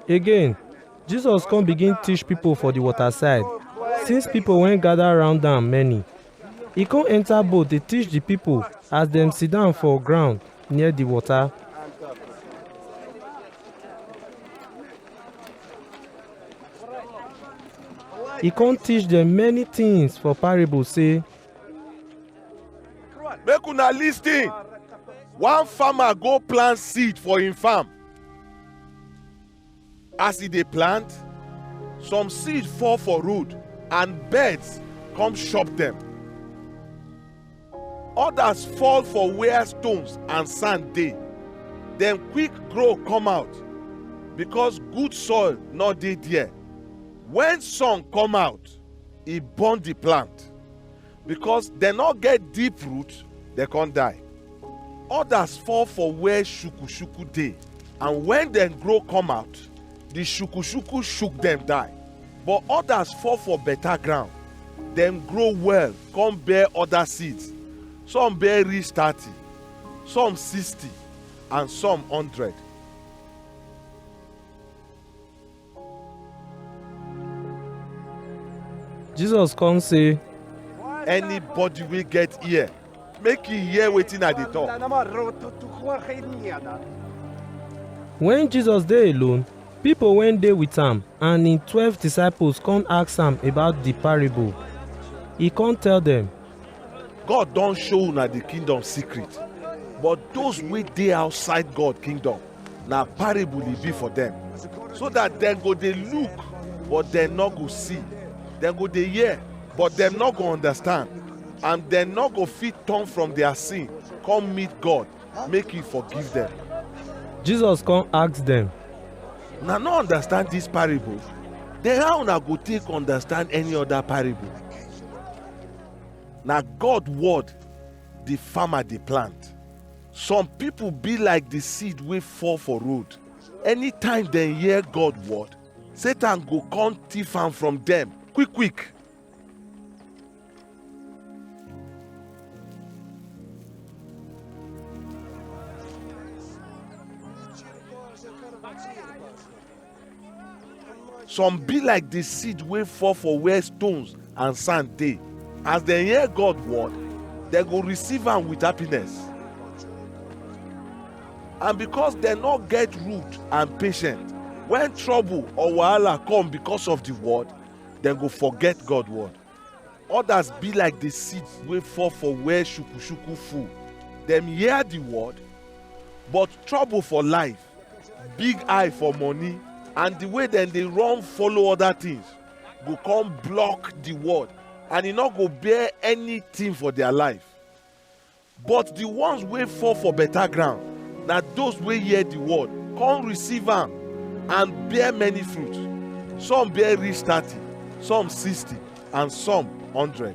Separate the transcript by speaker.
Speaker 1: Again, Jesus come begin teach people for the water side. Since people wen gather round am many, e come enter boat dey teach the people as dem sit down for ground near the water. He come teach them many things for parable say,
Speaker 2: make una lis ten one farmer go plant seed for him farm as e dey plant some seed fall for road and birds come chop dem others fall for where stones and sand dey dem quick grow come out because good soil no dey there when sun come out e burn the plant because dem no get deep root dem come die others fall for where shukushuku dey and when dem grow come out the shukushuku shook dem die but others fall for better ground dem grow well come bear other seeds some bear reach thirty some sixty and some hundred
Speaker 1: jesus come say anybody
Speaker 2: wey get ear make e hear wetin i dey talk
Speaker 1: when jesus dey alone people wey dey with am and him twelve disciples come ask am about the parable he come tell them god
Speaker 2: don show una the kingdom secret but those wey dey outside god kingdom na parable e be for dem so that dem go dey look but dem no go see dem go dey hear but dem no go understand and dem no go fit turn from their sin come meet god make he forgive dem Jesus
Speaker 1: come ask dem, una no
Speaker 2: understand this parable then how una go take understand any other parable na god word the farmer dey plant Some people be like the seed wey fall for road. Anytime dem hear God word, Satan go come thief am from dem quick quick. some be like the seed wey fall for where stones and sand dey as dem hear god word dem go receive am with happiness and because dem no get root and patience when trouble or wahala come because of the word dem go forget god word others be like the seed wey fall for where shukushuku full dem hear the word but trouble for life big eye for money and the way dem dey run follow other things go come block the word and e no go bear anything for their life but the ones wey fall for better ground na those wey hear the word come receive am and bear many fruit some bear reach thirty some sixty and some hundred